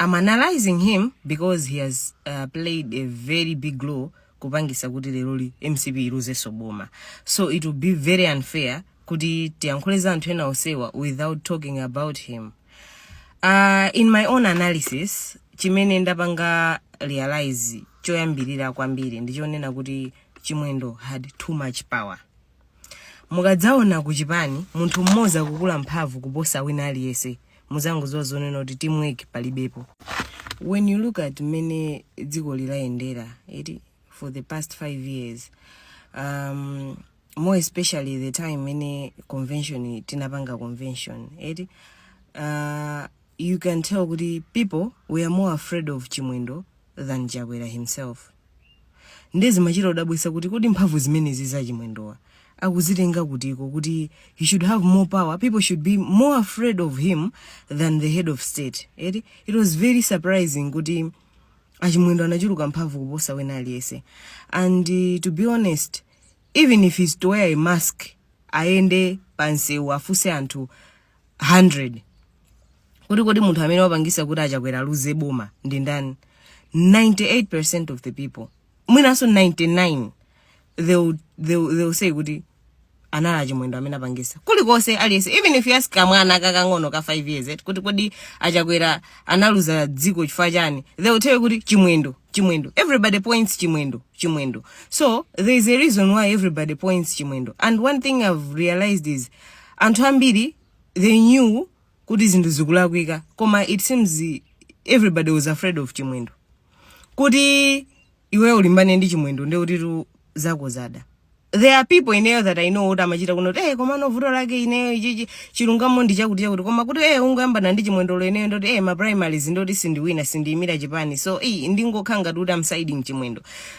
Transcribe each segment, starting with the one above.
I'm analyzing him because he has uh, played a very big role kupangisa kuti leroli mcp iluzeso boma so it will be very unfair kuti tiyankhule za anthu ena onsewa without talking about him uh, in my own analysis chimene ndapanga realize choyambirira kwambiri ndichonena kuti chimwendo had too much power Mukadzaona ku chipani munthu mmodzi kukula mphamvu kuposa wina aliyense mudzangodziwa zonena kuti teamwork palibepo. When you look at mmene dzikoli layendera eti for the past 5 years um, more especially the time imene convention tinapanga convention eti uh, you can tell kuti people were more afraid of chimwendo than Chakwera himself. Nde zimachita kudabwisa kuti kodi mphamvu zimenezi za Chimwendowa akuzitenga kutiko kuti he should have more power, people should be more afraid of him than the head of state. Eti, it was very surprising kuti achimwendo anachuluka mphamvu kuposa wina aliyense and uh, to be honest even if he's to wear a mask ayende pamsewu afunse anthu 100 kuti kodi munthu amene wapangisa kuti a Chakwera aluze boma ndi ndani 98 of the people mwinanso 99 they will, they will, they will say kuti anali a Chimwendo amene apangisa kulikonse aliyense even if you ask kamwana kakang'ono ka 5 years eti kuti kodi a Chakwera analuza dziko chifukwa chiyani they will tell you kuti chimwendo chimwendo everybody points chimwendo chimwendo so there is a reason why everybody points chimwendo and one thing i've realized is anthu ambiri they knew kuti zinthu zikulakwika koma it seems everybody was afraid of chimwendo kuti iwe ulimbane ndi chimwendo nde kutitu zako zada there are people ineyo that i know kuti amachita kunena kuti eh koma no vuto lake ineyo ichichi chilungamo ndi chakuti chakuti koma kuti eh ungoyambana ndi Chimwendoyo ineyo ndoti eh ma primaries ndoti sindiwina sindiyimira chipani so eh ndingokhala ngati kuti am siding chimwendo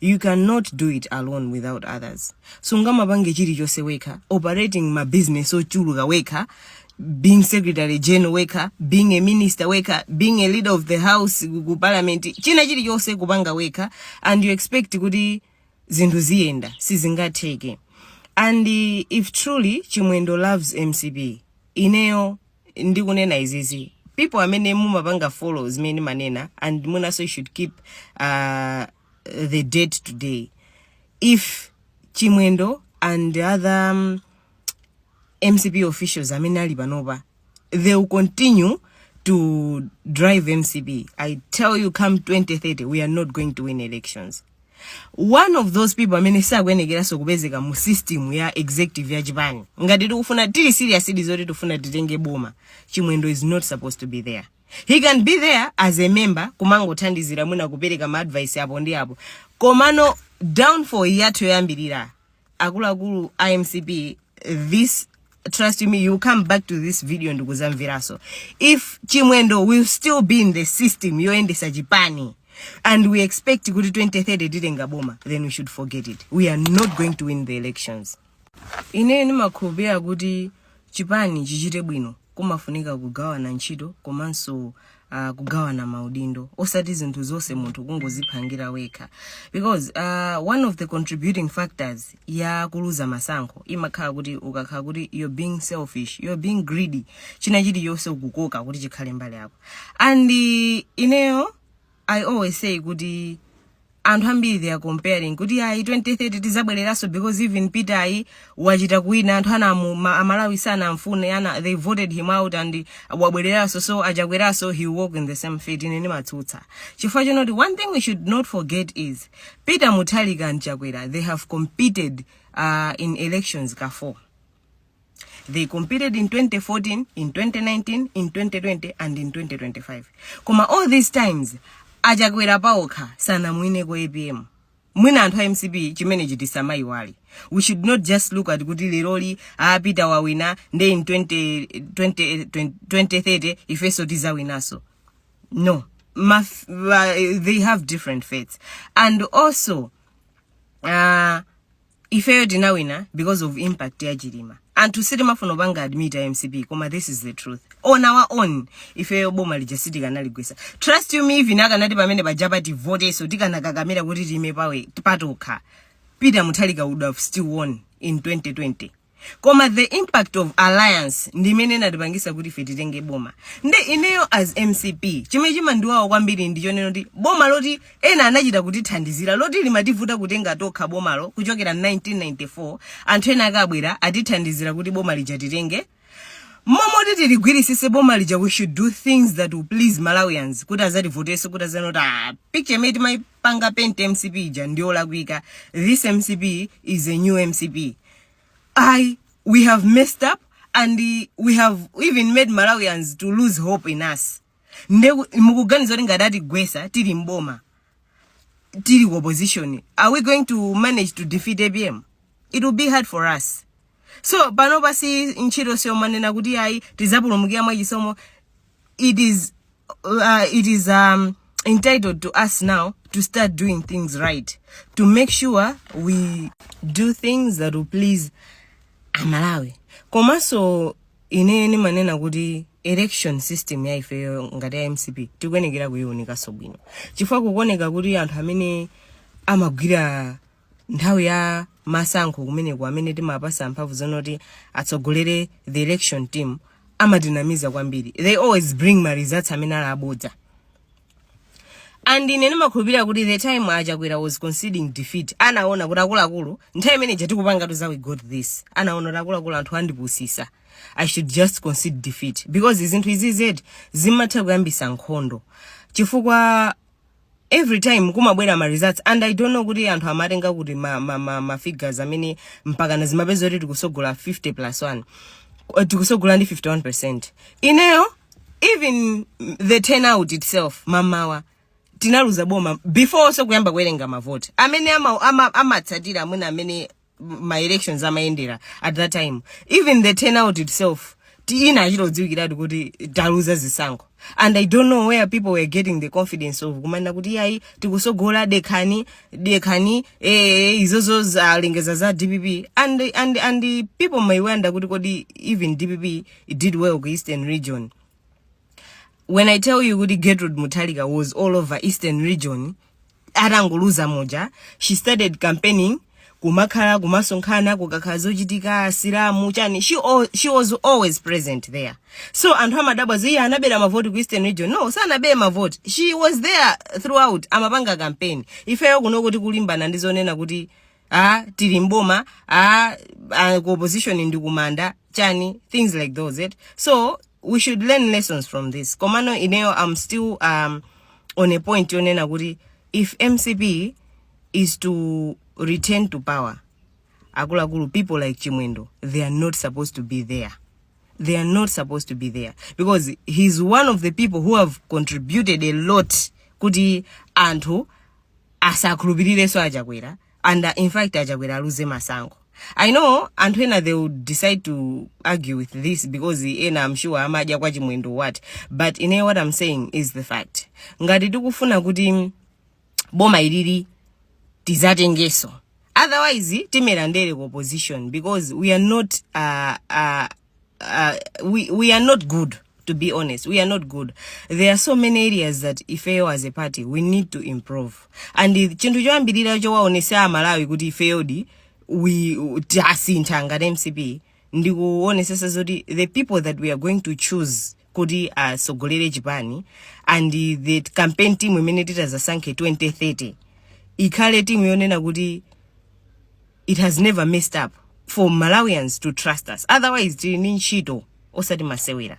you cannot do it alone without others sungamapange chilichonse wekha operating ma business ochuluka wekha being secretary general wekha being a minister wekha being a leader of the house ku ku parliament china chilichonse kupanga wekha and you expect kuti zinthu ziyenda sizingatheke and uh, if truly chimwendo loves mcp ineyo ndikunena izizi people amene mumapanga follow zimene ndimanena and mwinanso you should keep uh, the date today if chimwendo and other um, mcp officials amene ali panopa they will continue to drive mcp i tell you come 2030 we are not going to win elections one of those people amene sakuyenekeranso kupezeka mu system ya executive ya chipani ngati tikufuna tili serious di zoti tifuna titenge boma chimwendo is not supposed to be there he can be there as a member kumangothandizira mwina kupereka ma advice apo ndi apo komano downfall yathu yoyambirira akuluakulu a mcp this trust me you come back to this video ndi kuzamveraso if chimwendo will still be in the system yoyendesa chipani and we expect kuti 2030 titenga boma then we should forget it we are not going to win the elections ine ndimakhulupirira kuti chipani chichite bwino kumafunika kugawana ntchito komanso uh, kugawana maudindo osati zinthu zonse munthu kungoziphangira wekha because uh, one of the contributing factors ya kuluza masankho imakhala kuti ukakhala kuti you're being selfish you're being greedy china chilichonse ukukoka kuti chikhale mbali yako and uh, ineyo I always say kuti anthu ambiri they are comparing kuti ayi 2030 tizabwereranso because even Peter wachita kuwina anthu anamu ma- amalawi sanamfune ana they voted him out and wabwereranso so achakweraso he'll walk in the same fate ine ndimatsutsa chifukwa choti one thing we should not forget is Peter Mutharika and Chakwera they have competed uh, in elections ka 4 they competed in 2014 in 2019 in 2020 and in 2025 koma all these times achakwera paokha sanamwineko apm mwina anthu a mcp chimenechi tisamayiwale we should not just look at kuti leroli apita wawina nde in 2030 ifenso tizawinaso no uh, they have different fates and also uh, ifeyo tinawina because of impact ya chilima anthu sitimafuna kupanga admit a mcp koma this is the truth on our own ifeyo boma lija sitikanaligwisa trust you me even akanati pamene pajapa tivoteso tikanakakamira kuti tiime pawe patokha peter mutharika would have still won in 2020 koma the impact of alliance ndi imene inatipangisa kuti ife titenge boma nde ineyo as mcp chimene chimandiwawa kwambiri ndi chonena kuti boma loti ena anachita kutithandizira loti limativuta kutenga tokha bomalo kuchokera 1994 anthu ena akabwera atithandizira kuti boma lija titenge m'malo moti tiligwirisise boma lija we should do things that will please malawians kuti azativoteso kuti azaone kuti ah, picture imene timaipanga paint mcp ija ndiyolakwika this mcp is a new mcp ayi we have messed up and eh, we have even made Malawians to lose hope in us. Nde mukuganiza kuti ngati atigwesa tili mboma tili ku opposition are we going to manage to defeat APM? It will be hard for us. So panopa basi ntchito siyomanena kuti ayi tizapulumukira mwachisomo it is uh, it is um, entitled to us now to start doing things right to make sure we do things that will please amalawi komanso ine ndimanena kuti election system ya ifeyo ngati ya mcp tikuyenekera kuyiwunikanso bwino chifukwa kukuoneka kuti anthu amene amagwira nthawi ya masankho kumeneko amene timapasa mphamvu zonoti atsogolere the election team amatinamiza kwambiri they always bring ma results amene ali abodza and ine ndimakhulupirira kuti the time achakwera was conceding defeat anaona kuti akuluakulu nthawi imene ija tikupanga toza we got this anaona kuti akuluakulu anthu andipusisa i should just concede defeat because zinthu izi zimatha kuyambisa nkhondo chifukwa every time kumabwera ma results and i don't know kuti anthu amatenga kuti ma, ma, ma, ma figures amene mpakana zimapezeka kuti tikusogola 50 plus 1 eh, tikusogola ndi 51 percent ineyo even the turnout itself mamawa tinaluza boma before so kuyamba kuwerenga mavoti amene amatsatira ama, ama amene ma elections amayendera at that time even the turnout itself zinachita kudziwikiratu kuti taluza zisankho and i don't know where people were getting the confidence of kumanena kuti iyayi tikusogola dekhani dekhani eh, izozo zalengeza za dpp and, and, and people may wonder kuti kodi even dpp did well ku eastern region when i tell you kuti gertrude mutharika was all over eastern region atangoluza muja she started campaigning kumakhala kumasonkhana kukakhala zochitika asilamu chani she, al, she was always present there so anthu amadabwa zoti anabera mavoti ku eastern region no sanabere mavoti she was there throughout amapanga campaign ifeyo kuno kuti kulimbana ndi zonena kuti a tili mboma a, a ku opposition ndi kumanda chani things like those it so we should learn lessons from this komano ineyo i'm still um, on a point yonena kuti if mcp is to return to power akuluakulu people like chimwendo they are not supposed to be there they are not supposed to be there because he's one of the people who have contributed a lot kuti anthu asakhulupirirenso achakwera and uh, in fact achakwera aluze masankho i know anthu ena they would decide to argue with this because ena am sure amadya kwa chimwendo what but ine what i'm saying is the fact ngati tikufuna kuti boma ilili tizatengeso otherwise timera ndere ku opposition because we are not uh, uh, uh, we, we are not good to be honest we are not good there are so many areas that ifeyo as a party we need to improve and i- chinthu choyambirira chowaonesa amalawi kuti ifeyodi we tasintha ngati mcp ndikuonesesa zoti the people that we are going to choose kuti asogolere chipani and the campaign team imene titazasankhe 2030 ikhale timu yonena kuti it has never messed up for malawians to trust us otherwise tili ndi ntchito osati masewera